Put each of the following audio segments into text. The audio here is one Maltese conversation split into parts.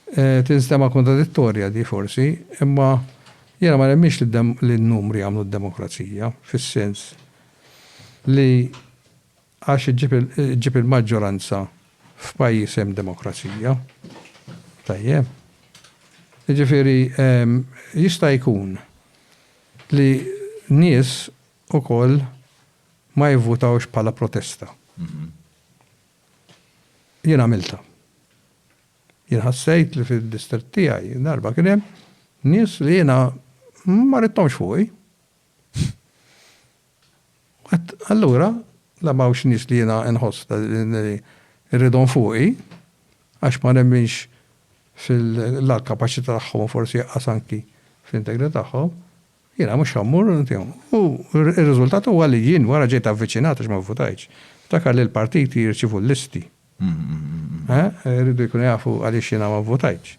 Tinstema' kontradittorja di forsi, imma jiena ma nemminx li n-numri jagħmlu d-demokrazija, fis-sens li għax iġġib il-maġġoranza f'pajjiż hemm demokrazija. Tajjeb? Jiġifieri jista' jkun li nies ukoll ma jivvutawx bħala protesta. Jien għamiltha. Jien ħassejt li fid-distrett tiegħi darba kien hemm nies li jiena ma ridthomx fuqi. U għedt, allura la m'hawnx nies li jiena nħoss li rridhom fuqi għax ma nemminx fil-la l-kapaċità tagħhom u forsi qas anki fl-integrità tagħhom. Jiena mhux ħa mmur, u r-riżultat huwa li jien wara ġejt avviċinat għax ma vvutajtx. Ftakar li l-partiti jirċievu l-listi. Iridu jkunu jafu għaliex jiena ma vvutajtx.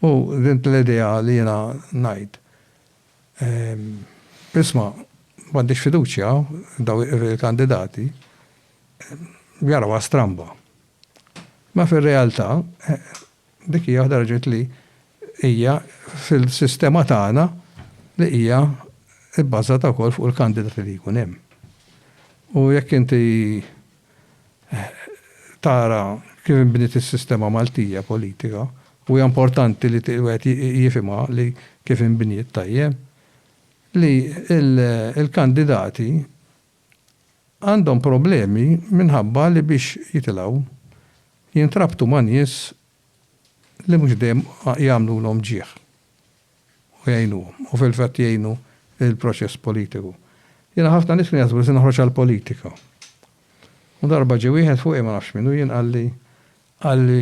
U din l-idea li jiena ngħid, isma' m'għandix fiduċja f'dawn il-kandidati, jarawha stramba. Imma fir-realtà, Dik hija waħda raġunijiet li hija fil-sistema tagħna li hija bbażata wkoll fuq il-kandidati li jkun hemm. U jekk inti tara kif inbniet is-sistema Maltija politika, u hija importanti li wieħed jifhimha li kif inbniet tajjeb, li l-kandidati għandhom problemi minħabba li biex jitilgħu jintrabtu ma' nies li mhux dejjem jagħmlulhom ġieħ u jgħinuhom u fil-fatt jgħinu l-proċess politiku. Jiena ħafna nies kienu jaħsbu li se noħroġ għall-politika u darba ġie wieħed fuqi ma nafx min hu jien qalli qalli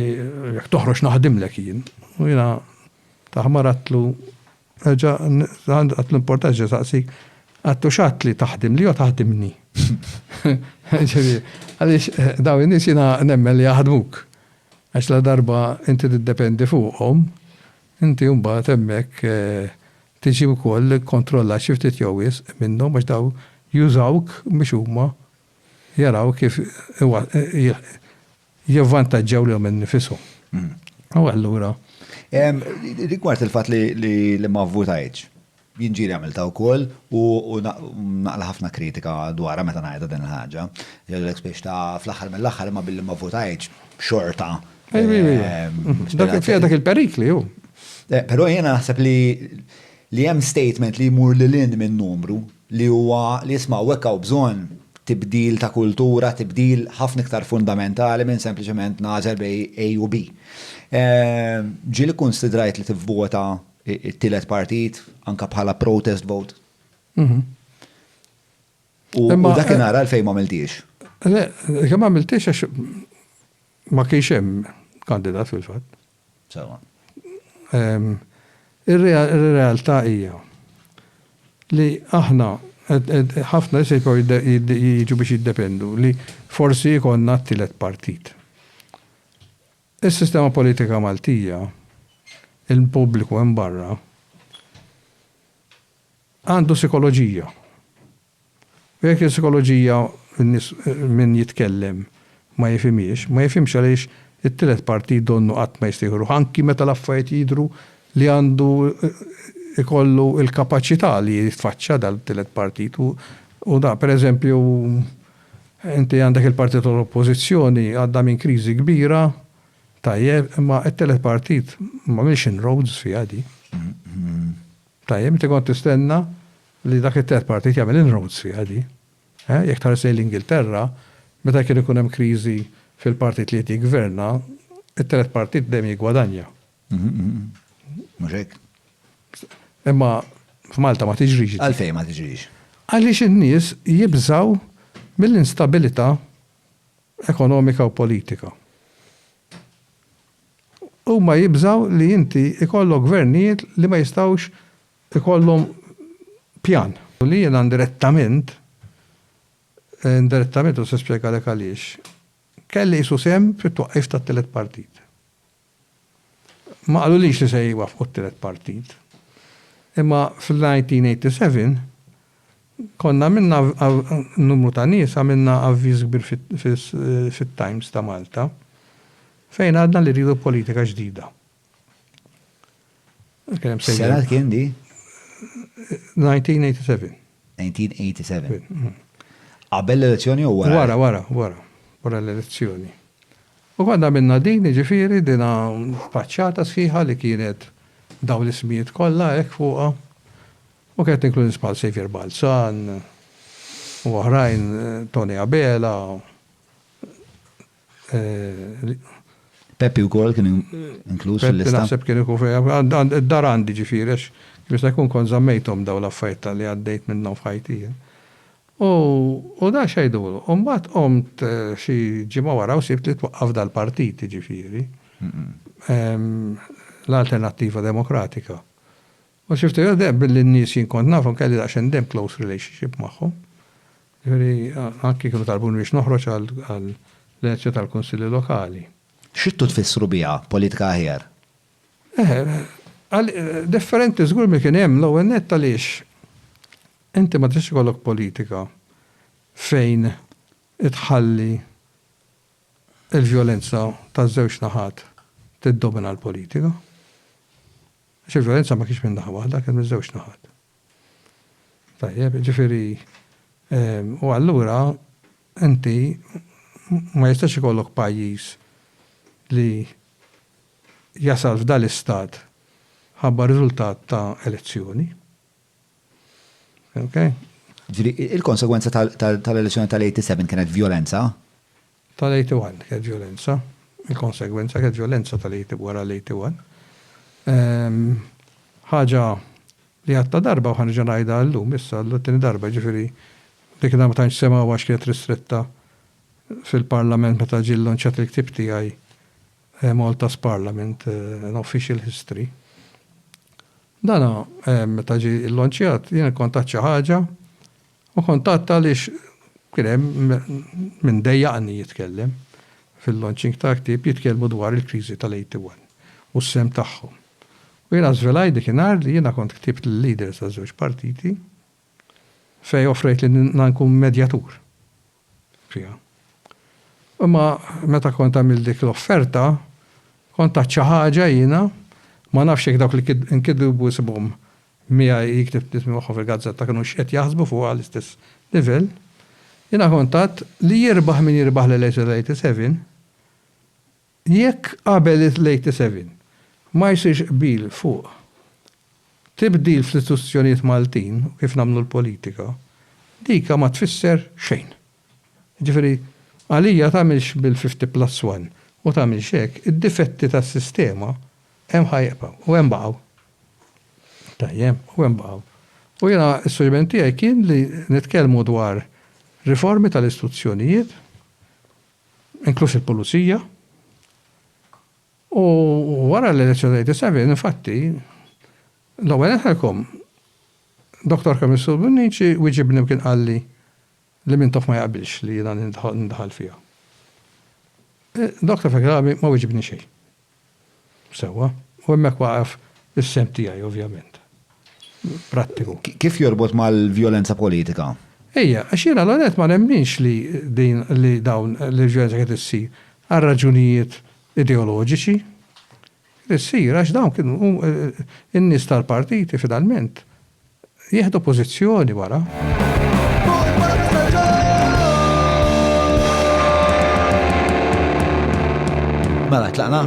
jekk toħroġ naħdimlek jien u jiena taħmaradtlu Reġa' għandu l-importanza ġa saqsik, għad hux għad li taħdimli jew taħdimni? Ġifieri, għaliex dawn in-nies jiena nemmen li jaħdmuk. Għax ladarba inti tiddependi fuqhom, inti mbagħad hemmhekk tiġi wkoll kkontrollat xi ftit jew wisq minnhom għax dawn jużawk biex huma jaraw kif jivvantaġġaw lilhom innifishom. U allura. Rigward il-fatt li ma vvutajtx, jinġieli għamilta wkoll u naqla ħafna kritika dwarha meta ngħidha din il-ħaġa. Jgħidulek spiex ta' fl-aħħar mill-aħħar imma billi ma vvutajtx xorta. Dak il-perikli hu. Però jiena naħseb li Li hemm statement li jmur lil hinn minn numru, li huwa li isma' hawnhekk hawn bżonn tibdil ta' kultura, tibdil ħafna iktar fundamentali minn sempliċement nagħżel bejn A u B. Ġieli kkunsidrajt li tivvota t-tielet partit anke bħala protest vote. U dakinhar għalfejn m'għamiltiex? Le, ma għamiltiex għax ma kienx hemm kandidat fil-fatt. Sewwa. Ir-realtà hija li aħna ħafna nies jibqgħu jiġu biex jiddependu li forsi jkollna t-tielet partit. Is-sistema politika Maltija, il-pubbliku hemm barra, għandu sikoloġija. U jekk is-sikoloġija n-nies min jitkellem ma jifhimhiex, ma jifhimx għaliex it-tielet partit donnu qatt ma jista' jieħu ruħu anki meta l-affarijiet jidhru li għandu jkollu l-kapaċità li jitfaċċa dal-tielet partit u u da. Per eżempju, inti għandek il-partit tal-Oppożizzjoni għaddha minn kriżi kbira, tajjeb, imma t-tielet partit m'għamilx inroads fiha di. Tajjeb, inti kont tistenna li dak it-terz partit jagħmel inroads fiha di. Eh, jekk tħares lejn l-Ingilterra, meta kien ikun hemm kriżi fil-partit li qed jiggverna, it-telet partit dejjem jiggwadanja. Mhux hekk? Imma f'Malta ma tiġrix di. Għalfejn ma tiġrix? Għaliex in-nies jibżgħu mill-instabilità ekonomika u politika. Huma jibżgħu li inti jkollok gvernijiet li ma jistgħux ikollhom pjan. U li jiena indirettament, indirettament u se nispjegalek għaliex, kelli qisu sehem fit-twaqqif tat-tielet partit. Ma qalulix li se jwaffqu t-tielet partit. Imma fl-1987 Konna għamilna numru ta' nies għamilna avviż kbir fit-Times ta' Malta fejn għadna li rridu politika ġdida. X'sena kien di? 1987. 1987. Qabel l-elezzjoni jew wara? Wara, wara, wara. Wara l-elezzjoni. U konna għamilna din, jiġifieri dina faċċata sħiħa li kienet dawn l-ismijiet kollha hekk fuqha. U kienet tinkludi sbħal Xavier Balzan u oħrajn, Tony Abela, Peppi wkoll kien inkluż fil-lista. Peppi naħseb kien ikun fih, id-dar għandi ġifieri għax kemm jista' jkun kont żammejthom dawn l-affarijiet ta' li għaddejt minnhom f'ħajti jien. U u dan x'għidulu. U mbagħad qomt xi ġimgħa wara u sibt li twaqqaf dal-partit jiġifieri l-Alternattiva Demokratika. U sibt li deheb billi n-nies jien kont nafhom kelli daqsxejn deheb close relationship magħhom. Jiġifieri anki kienu talbuni biex noħroġ għall-elezzjoni tal-kunsilli lokali. X'ridtu tfissru biha politika aħjar? Eħe, differenti żgur milli kien hemm. L-ewwel nett għaliex inti ma tistax ikollok politika fejn tħalli l-vjolenza taż-żewġ naħat tiddomina l-politika. Għax il-vjolenza ma kienx minn naħa waħda, kien miż-żewġ naħat. Tajjeb, jiġifieri u allura inti ma jistax ikollok pajjiż li jasal f'dan l-istat ħabba riżultat ta' elezzjoni. Okay? Ġifieri il-konsegwenza tal-elezzjoni tal-87 kienet vjolenza? tal-81 kienet vjolenza, il-konsegwenza kienet vjolenza tal-81 wara l-81. Ħaġa li għadtha darba u ħa nerġa' ngħidha llum issa għall-tieni darba, jiġifieri dik id-darba ma tantx semgħuha għax kienet ristretta fil-Parlament meta ġie llonċjat il-ktieb tiegħi Malta's Parliament, An Official History. Dan meta ġie llonċjat jiena kont għedt xi ħaġa U kuntatt għaliex kien hemm min dejjaqni jitkellem fil-launching ta' ktieb jitkellmu dwar il-kriżi tal-81 u s-sehem tagħhom. U jiena żvelajt dik in-nhar li jiena kont ktibt lill-leaders taż-żewġ partiti fejn offrejt li nkun medjatur. fiha. Imma meta kont għamilt dik l-offerta, kont għedt xi ħaġa jiena, ma nafx jekk dawk li nkitbu ismhom miegħi, li ktibt l-ismi magħhom fil-gazzetta kinux qed jaħsbu fuqha l-istess livell, jiena kont għedt li jirbaħ min jirbaħ l-elezzjoni tal-'87, Jekk qabel l-87 ma jsirx qbil fuq tibdil fl-istituzzjonijiet Maltin u kif nagħmlu l-politika, dika ma tfisser xejn. Jiġifieri, għalija tagħmilx bil-fifti plus one u tagħmilx hekk, id-difetti tas-sistema hemm ħa jibqgħu u hemm baqgħu. Tajjeb, u hemm baqgħu. U jiena s-suġġeriment tiegħi kien li nitkellmu dwar riformi tal-istuzzjonijiet, inkluż il-pulizija, u wara l-elezzjoni ta' 87, infatti, l-ewwel nħelkom, Dr. Kamissur Bonnici wieġibni u kien qalli li Mintoff ma jaqbilx li jiena nindaħal fiha. Dr. Fegrabi ma wieġibni xejn. Sewwa. U hemmhekk waqaf is-sehem tiegħi ovvjament. Prattiku. Kif jorbot mal-vjolenza politika? Ejja, għax jiena l-ewwel nett ma nemminx li din li dawn li l-vjolenza kienet issir għal raġunijiet ideoloġiċi. Kienet issir għax dawn kienu in-nies tal-partiti finalment Jieħdu pożizzjoni wara. Mela, tlaqna?